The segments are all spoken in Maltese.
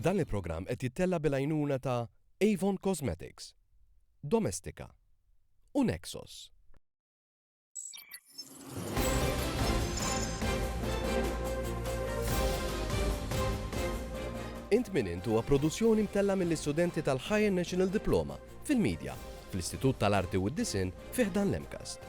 Dan il-programm qed jittella' bil-għajnuna ta' Avon Cosmetics, Domestika u Nexos. Int Min Int huwa produzzjoni mtellgħa mill-istudenti tal-Higher National Diploma fil-Media fl-Istitut tal-Arti u d-Disinn fi ħdan l-MCAST.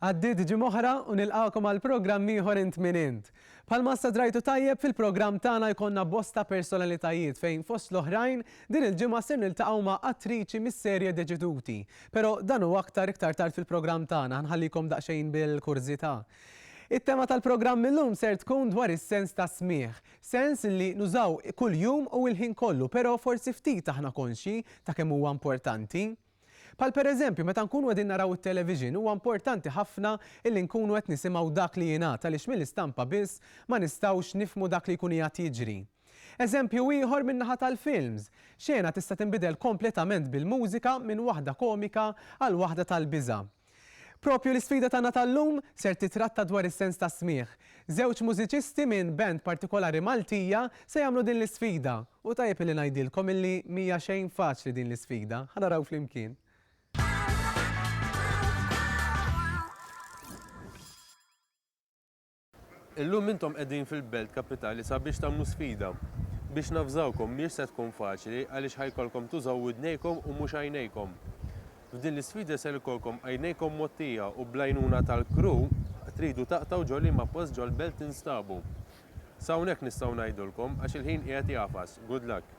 Għaddiet ġimgħa oħra u nilqagħkom għal programm ieħor int min int. Bħalma issa drajtu tajjeb fil-programm tagħna jkollna bosta personalitajiet fejn fost l-oħrajn din il-ġimgħa ser niltaqgħu ma' attriċi mis-serje Deċiduti. Però dan u aktar iktar tard fil-programm tagħna nħallikom daqsxejn bil-kurżità. It-tema tal-programm illum ser tkun dwar is-sens tas-smigħ. Sens li nużaw kuljum u l-ħin kollu, però forsi ftit aħna konxji ta' kemm huwa importanti. Bħal pereżempju, meta nkunu qegħdin naraw it-television, huwa importanti ħafna illi nkunu qed nisimgħu dak li jingħad għaliex mill-istampa biss ma nistgħux nifhmu dak li jkun qiegħed jiġri. Eżempju ieħor min-naħa tal-films, xena tista' tinbidel kompletament bil-mużika minn waħda komika għal waħda tal-biża'. Proprju l-isfida tagħna tal-lum ser titratta dwar is-sens tas-smigħ. Żewġ mużiċisti minn band partikolari Maltija se jagħmlu din l-isfida u tajjeb illi ngħidilkom illi mhija xejn faċli din l-isfida. Ħa naraw flimkien. Illum intom qegħdin fil-Belt Kapitali sabiex tagħmlu sfida. Biex navżawkom, mhiex se tkun faċli għaliex ħa jkollkom tużaw widnejkom u mhux għajnejkom. F'din l-isfida ser ikollkom għajnejkom mgħottija u bl-għajnuna tal-crew tridu taqtgħu ġo liema post ġol-Belt tinstabu. S'hawnhekk nistgħu ngħidulkom għax il-ħin qiegħed jagħfas. Good luck.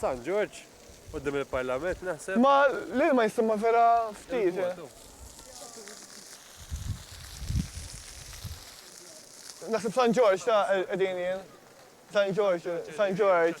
San Ġorġ, quddiem il-Parlament naħseb. Ma l-ilma jisimha vera ftit. Naħseb San Ġorġ ta' qegħdin jien. San Ġorġ, San Ġorġ.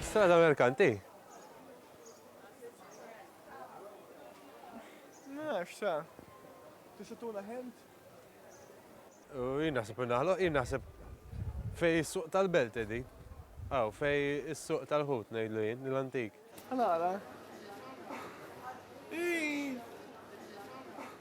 Strada Merkanti. Nafx sa. Tista' tuna ħent? Jien naħseb naħloq, jien naħseb fej is-suq tal-belt edi. Aw, fej is-suq tal-ħut ngħidlu jien, l-antik. Għala.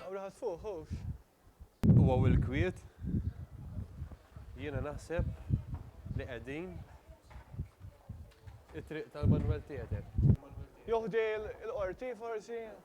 Hawn raħas fuq, ħuhx. U hawn il-kwiet. Jiena naħseb li qegħdin it-triq tal-Manwel Theatre. Jew ħdej il-Qorti forsi?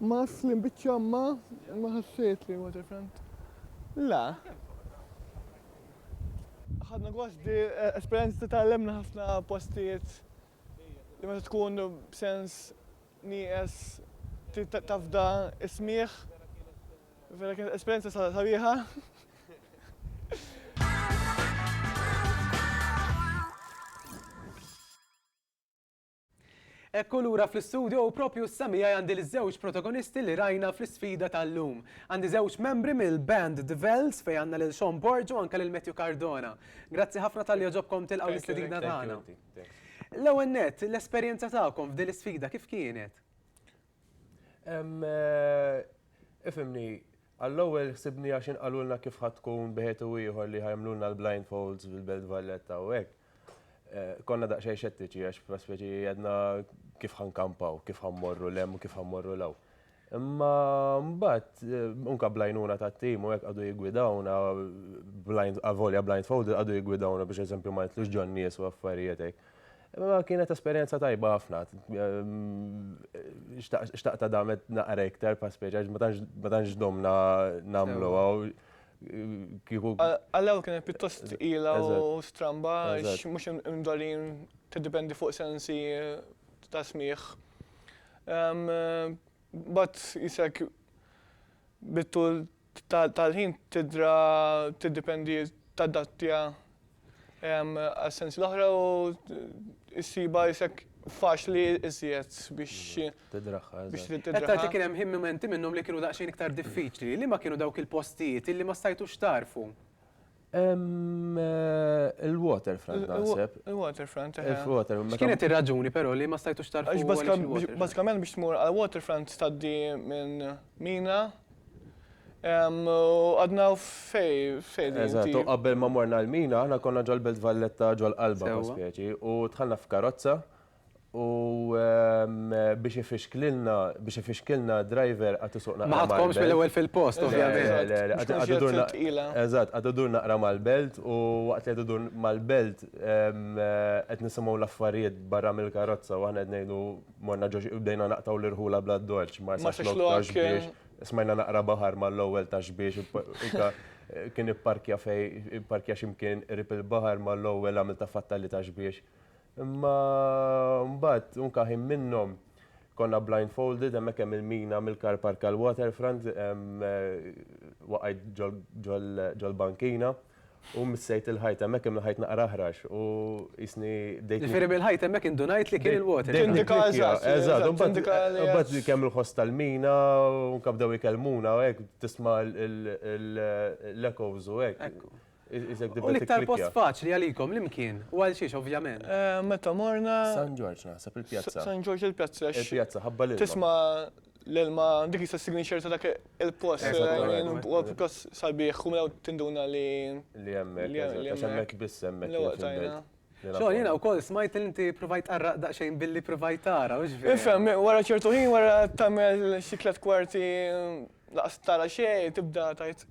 Mass li mbiċċa ma ma ħassejt li huwa different. Le. Ħadna gost bi esperjenza ta' tgħallimna ħafna postijiet li meta tkun b'sens nieqes trid tafda s-smigħ. Vera kienet esperjenza sabiħa. Ekku lura fl-istudio u proprju issa miegħi għandi l-żewġ protagonisti li rajna fl-isfida tal-lum. Għandi żewġ membri mill-band The Vells fejn għandna lil Sean Borg u anke lil Matthew Cardona. Grazzi ħafna talli għoġobkom tilqgħu l-istedina tagħna. L-ewwel nett, l-esperjenza tagħkom f'din l-isfida kif kienet? Ifhimni, għall-ewwel ħsibni għax inqalulna kif ħa tkun b'ħed u ieħor li ħa jagħmlulna l-blindfolds fil-Belt Valletta u hekk. Konna daqsxejn xettiċi għax prospeti għedna kif ħankampaw, kif ħammorru lem u kif ħammorru law. Imma mbagħad unka blajnuna tat-tim u hekk għadu jigwidawna blind avolja blind fold għadu jigwidawna biex eżempju ma jitlux ġon nies u affarijiet hekk. Imma kienet esperjenza tajba ħafna. Xtaqta damet naqra iktar prospeti għax ma tantx domna nagħmluha. kieku. Għall-ewwel kienet pjuttost tqila u stramba għax mhux imdorrin tiddipendi fuq sensi ta' smigħ. Mbagħad isek bit-tul tal-ħin tidra tiddipendi tadattja Għas-sensi l-oħra u issibha isek faċli iżjed biex. Tidraħħa. Biex tidraħħa. Qed tgħid li kien hemm mumenti minnhom li kienu daqsxejn iktar diffiċli. Liema kienu dawk il-postijiet illi ma stajtux tagħrfu? Il-waterfront naħseb. Il-waterfront, eħe. Il-waterfront. X'kienet ir-raġuni però li ma stajtux tagħrfu? Bażikament biex tmur għall-waterfront tgħaddi minn mina U għadna fej, fej. Eżatt, u qabel ma morna l-mina, aħna konna ġol-Belt Valletta ġol-qalba ta' speċi, u dħalna f'karozza u biex ifixklilna, biex ifixkilna driver għad isuqna. Ma ħadkomx mill-ewwel fil-post, ovvjament. Għad idur naqra. Eżatt, għad idur naqra mal-Belt u waqt li qed idur mal-Belt qed nisimgħu l-affarijiet barra mill-karozza u aħna qed ngħidu. morna ġoġ u bdejna naqtaw l-irħula bla dorċ, marsa xlok ta' xbiex, smajna naqra baħar ma l-ewwel ta' xbiex, kien ipparkja fej, ipparkja ximkien rip il-baħar ma l-ewwel għamil ta' fatta li ta' xbiex. Imma mbagħad unka ħin minnhom konna blindfolded hemmhekk hemm il-mina mill-car park għall-waterfront, waqajt ġol-bankina. U missejt il-ħajt hemmhekk imma l-ħajt naqra aħrax u qisni dejt. Ġifieri mill-ħajt hemmhekk indunajt li kien il-water. Eżatt, imbagħad kemm il-ħoss tal-mina u anke bdew ikellmuna u hekk tisma' l-echoes u hekk. U l-iktar post faċli għalikom li mkien u għal xiex ovvjament? Meta morna. San Ġorġ naħseb il-pjazza. San Ġorġ il-pjazza. Il-pjazza ħabba l-ilma. Tisma' l-ilma dik jista' signature ta' dak il-post. Eżattament. U pjuttost sabiħ, u mela tinduna li. Li hemmhekk, eżatt, għax hemmhekk biss hemmhekk. L-ewwel tajna. Xogħol jiena wkoll smajt li inti provajt tqarraq daqsxejn billi provajt tara, hux vera? Ifhem, wara ċertu ħin wara tagħmel xi tliet kwarti laqas tara xejn, tibda tgħid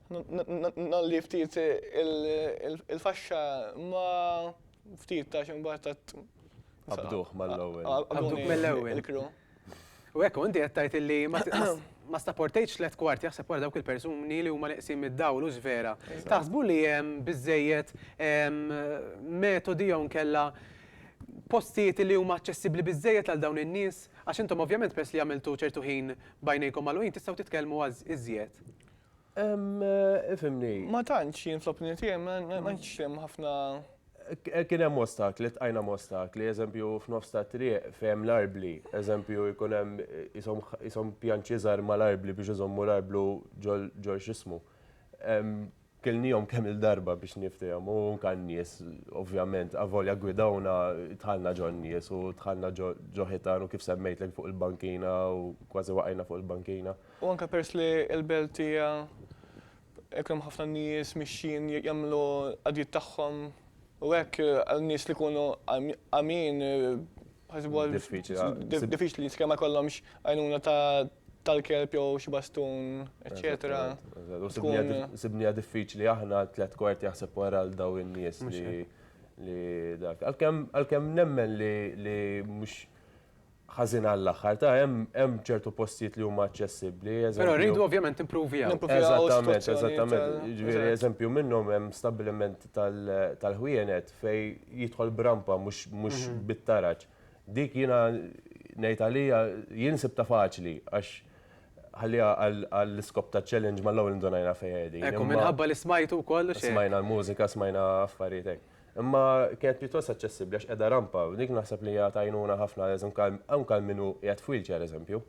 ngħolli ftit il-faxxa ma ftit għax imbagħad. Qabduh mal-ewwel. Qabduh mill-ewwel. U hekk inti qed tgħid illi ma stapportejtx tliet kwart jaħseb wara dawk il-persuni li huma neqsin mid-dawl u vera. Taħsbu li hemm biżejjed metodi jew nkella postijiet li huma aċċessibbli biżejjed għal dawn in-nies? Għax intom ovvjament peress li għamiltu ċertu ħin b'għajnejkom magħluqin tistgħu titkellmu iżjed. Ifimni. Ma tantx jien fl-opinjoni tiegħi ma tantx hemm ħafna. Kien hemm ostakli, tqajna m'ostakli, eżempju f'nofs tat-triq fejn l-arbli, eżempju jkun hemm qishom pjanċi żgħar mal-arbli biex iżommu l-arblu ġol x'ismu. Kilniehom kemm-il darba biex niftehom u anke n-nies ovvjament avolja gwidawna dħalna ġon-nies u dħalna ġo ħitan u kif semmejtlek fuq il-bankina u kważi waqajna fuq il-bankina. U anke peress li l-belt hija jkun hemm ħafna nies mixjin jagħmlu l-qadijiet tagħhom u hekk għal nies li jkunu għamjin ħasibuha diffiċli li sakemm ma jkollhomx għajnuna tal-kelb jew xi bastun eċċetera. Sibniha diffiċli aħna tliet kwart jaħseb wara għal dawn in-nies li dak. Għalkemm nemmen li mhux ħażin għall-aħħar. Ta' hemm hemm ċertu postijiet li huma aċċessibbli, eżempju. Però rridu ovvjament impruvjaw. Eżattament, eżattament. Ġifieri eżempju minnhom hemm stabbiliment tal-ħwienet fejn jidħol b'rampa mhux mhux bit-taraġ. Dik jiena ngħid għalija jien sibtha faċli għax ħalliha għall-iskop ta' challenge mal-ewwel indunajna fejn qegħdin. Ekku, minħabba li smajtu wkoll u xejn. Smajna l-mużika, smajna affarijiet hekk. Imma kienet pjuttost aċċessibbli għax qiegħda rampa, u dik naħseb li hija ta' għajnuna ħafna għal eżempju anke għal min hu qiegħed f'wheelchair eżempju.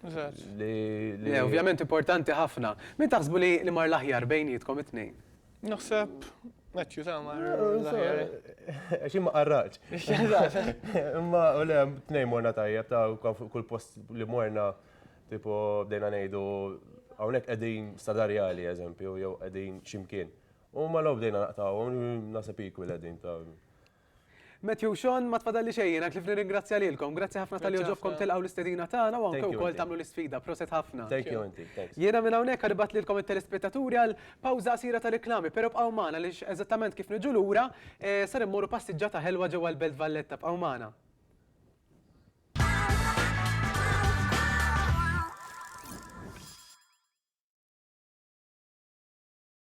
Eżatt. Le, ovvjament importanti ħafna. Min taħsbu li mar l-aħjar bejnietkom it-tnejn? Naħseb Matthew ta' mar l-aħjar. Għax imma qarraċ. Imma u le tnejn morna tajjeb ta' kull post li morna tipo bdejna ngħidu hawnhekk qegħdin stadarjali eżempju jew qegħdin x'imkien. U malaw bdejna naqtawhom, naseb equal qegħdin ta' Matthew Sean, ma tfadalli xejn, għak li fri ringrazzja lilkom. Grazzi ħafna tal-li oġobkom tilqaw l-istedina tagħna u anke wkoll tagħmlu l-isfida. Proset ħafna. Thank you, inti. Jiena minn hawnhekk għaribat lilkom it-telespettaturi għal pawża qasira ta' riklami, però bqgħu magħna li eżattament kif niġu lura eh, ser immorru passiġġata ħelwa ġewwa l-Belt Valletta. Bqgħu magħna.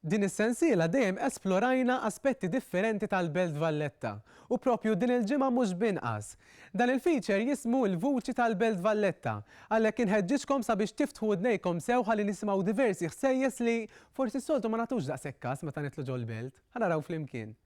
Din is-sensiela dejjem esplorajna aspetti differenti tal-Belt Valletta u proprju din il-ġimgħa mhux b'inqas. Dan il-feature jismu Il-Vuċi tal-Belt Valletta, għalhekk inħeġġiġkom sabiex tiftħu udnejkom sew ħalli nisimgħu diversi ħsejjes li forsi s-soltu ma nagħtux daqshekk kas meta nidħlu ġol-belt. Ħa naraw flimkien.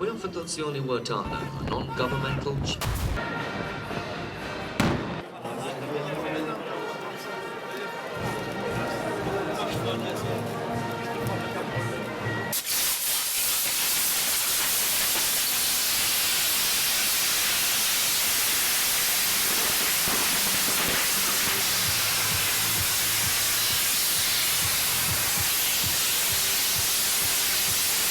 U jaf fid-dozzjoni huwa tagħna, non-governmental.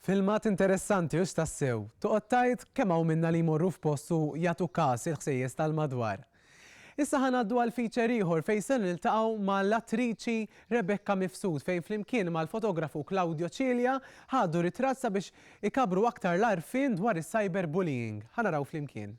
Filmat interessanti hux tassew! Toqgħod tgħid kemm hawn minna li jmorru f'post u jagħtu kas il-ħsejjes tal-madwar. Issa ħa ngħaddu għal feature ieħor fejn se niltaqgħu ma' l-attriċi Rebecca Mifsud fejn flimkien mal-fotografu Claudio Cilia ħadu ritratt sabiex ikabbru aktar l-għarfien dwar is-cyber bullying. Ħa naraw flimkien.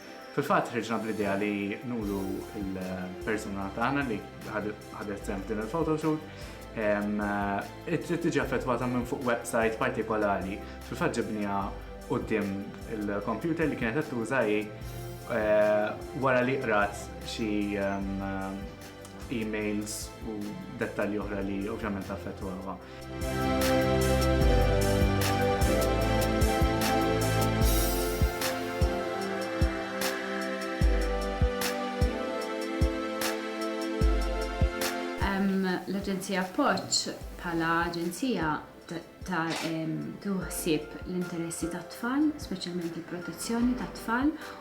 Fil-fatt ħriġna bl-idea li nuru l-persuna tagħna li ħadet sehem f'din il-photoshoot trid tiġi affettwata minn fuq website partikolari. Fil-fatt ġibniha quddiem il-kompjuter li kienet qed tuża hi wara li qrat xi emails u dettalji oħra li ovvjament affettwawha. L-Aġenzija Appoġġ bħala aġenzija ta' tieħu ħsieb l-interessi tat-tfal, speċjalment il-protezzjoni tat-tfal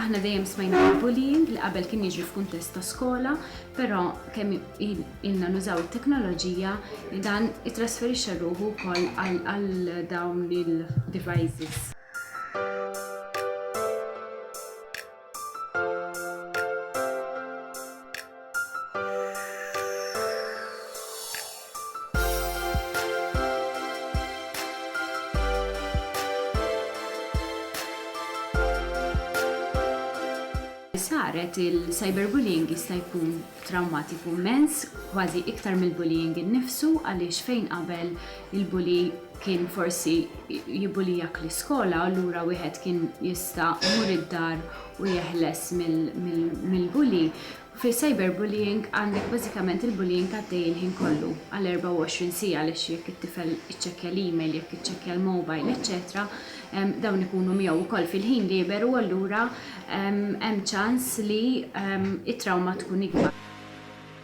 Aħna dejjem smajna bil-bullying li qabel kien jiġri f'kuntest ta' skola, però kemm ilna nużaw it-teknoloġija li dan itrasferixxa ruħu wkoll għal dawn il-devices. saret, il-cyberbullying jista' jkun trawmatiku immens, kważi iktar mill-bullying innifsu għaliex fejn qabel il-bully kien forsi jibbulijak l-iskola, allura wieħed kien jista' jmur id-dar u jeħles mill-bully, fi cyberbullying għandek bażikament il-bullying għaddej il-ħin kollu għal 24 siegħa għaliex jekk it-tifel iċċekkja l-email, jekk iċċekkja l-mobile, eċċetera dawn ikunu miegħu wkoll fil-ħin lieber u allura hemm ċans li t-trawma tkun ikbar.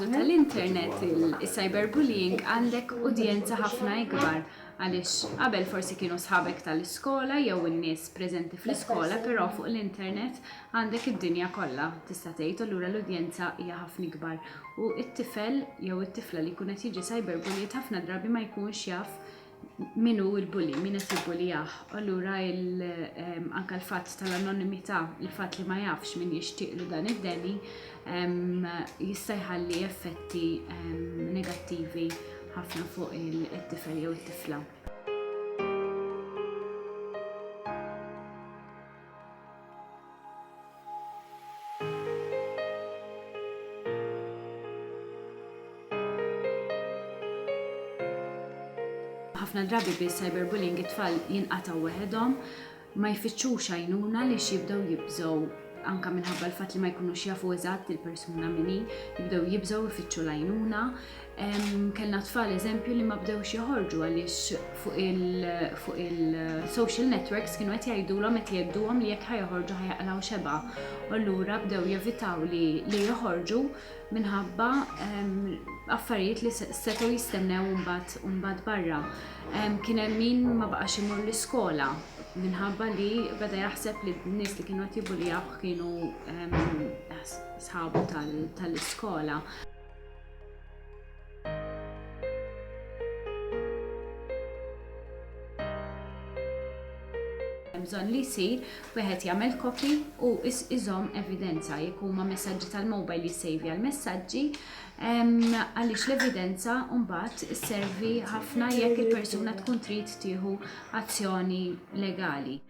l-użu tal-internet, il-cyberbullying, għandek udjenza ħafna ikbar għaliex qabel forsi kienu sħabek tal-iskola jew in-nies preżenti fl-iskola però fuq l-internet għandek id-dinja kollha tista' tgħid u allura l-udjenza hija ħafna ikbar u t-tifel jew it-tifla li jkun qed jiġi cyberbullied ħafna drabi ma jkunx jaf min hu l-bully, min qed jibbulijah. Allura anke l-fatt tal-anonimità, il-fatt li ma jafx min jixtieqlu dan id-deni jista' jħalli effetti negattivi ħafna fuq it-tifel jew it-tifla. Ħafna drabi bis-cyberbullying it-tfal jinqatgħu weħedhom, ma jfittxux għajnuna għaliex jibdew jibżgħu anke minħabba l-fatt li ma jkunux jafu eżatt il-persuna min hi, jibdew jibżgħu jfittxu l-għajnuna. Kellna tfal eżempju li ma bdewx joħorġu għaliex fuq il-social networks kienu qed jgħidulhom qed jgħidduhom li jekk ħajħorġu ħajaqlaw xeba. U allura bdew jevitaw li li joħorġu minħabba affarijiet li setgħu jistennew mbagħad mbagħad barra. Kien hemm min ma baqax imur l-iskola minħabba li beda jaħseb li n-nies li kienu qed jibuljaw kienu sħabu tal-iskola. bżonn li jsir, wieħed jagħmel kopi u iżomm evidenza jekk huma messaġġi tal-mobile li jsejvi għal messaġġi għaliex l-evidenza mbagħad isservi ħafna jekk il-persuna tkun trid tieħu azzjoni legali.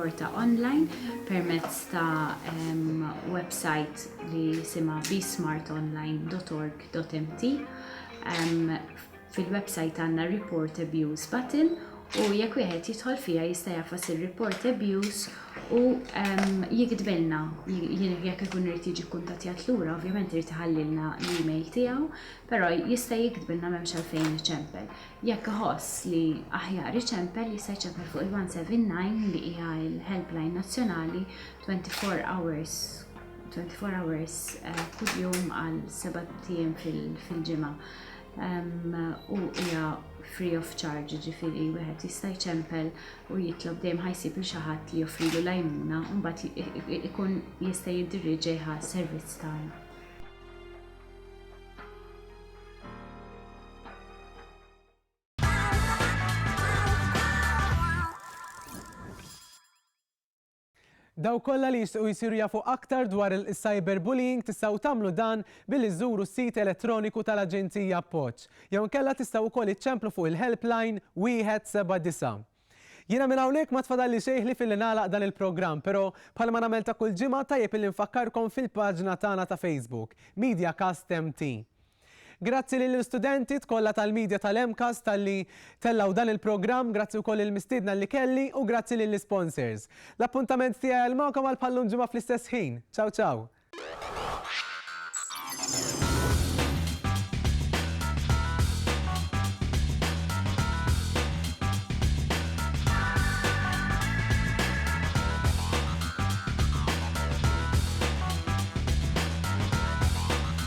rapporta online permezz ta' um, website li sima bsmartonline.org.mt um, Fil-websajt għandna Report Abuse button u jekk wieħed jidħol fiha jista' jafas ir-Report Abuse u jiktbilna jekk ikun irid jiġi kkuntattjat lura, ovvjament irid iħallilna l-email tiegħu, però jista' jiktbilna m'hemmx għalfejn iċempel. Jekk iħoss li aħjar iċempel jista' jċempel fuq il-179 li hija l-helpline nazzjonali 24 hours 24 hours kuljum għal 7 ijiem fil-ġimgħa. u hija free of charge ġifiri wieħed jista' jċempel u jitlob dejjem ħajsib li xi ħadd li joffrilu l-għajnuna u mbagħad ikun jista' jiddirieġeha servizz tagħna. Dawk kollha li jixtiequ jsiru jafu aktar dwar il-cyberbullying tistgħu tagħmlu dan billi żżuru s-sit elettroniku tal-Aġenzija Appoġġ jew inkella tistgħu wkoll iċċemplu fuq il-helpline wieħed seba' disa'. Jiena minn hawnhekk ma tfadalli xejn ħlief illi nagħlaq dan il-programm però bħalma nagħmel ta' kull ġimgħa tajjeb illi nfakkarkom fil-paġna tagħna ta' Facebook, MediaCast MT. Grazzi lill-istudentit kollha tal-Media tal-MCAST talli tellgħu dan il-programm, grazzi wkoll lill-mistiedna li kelli u grazzi lill-isponsors. L-appuntament tiegħi għal magħkom għal bħal llum ġimgħa fl-istess ħin. Ciao ciao!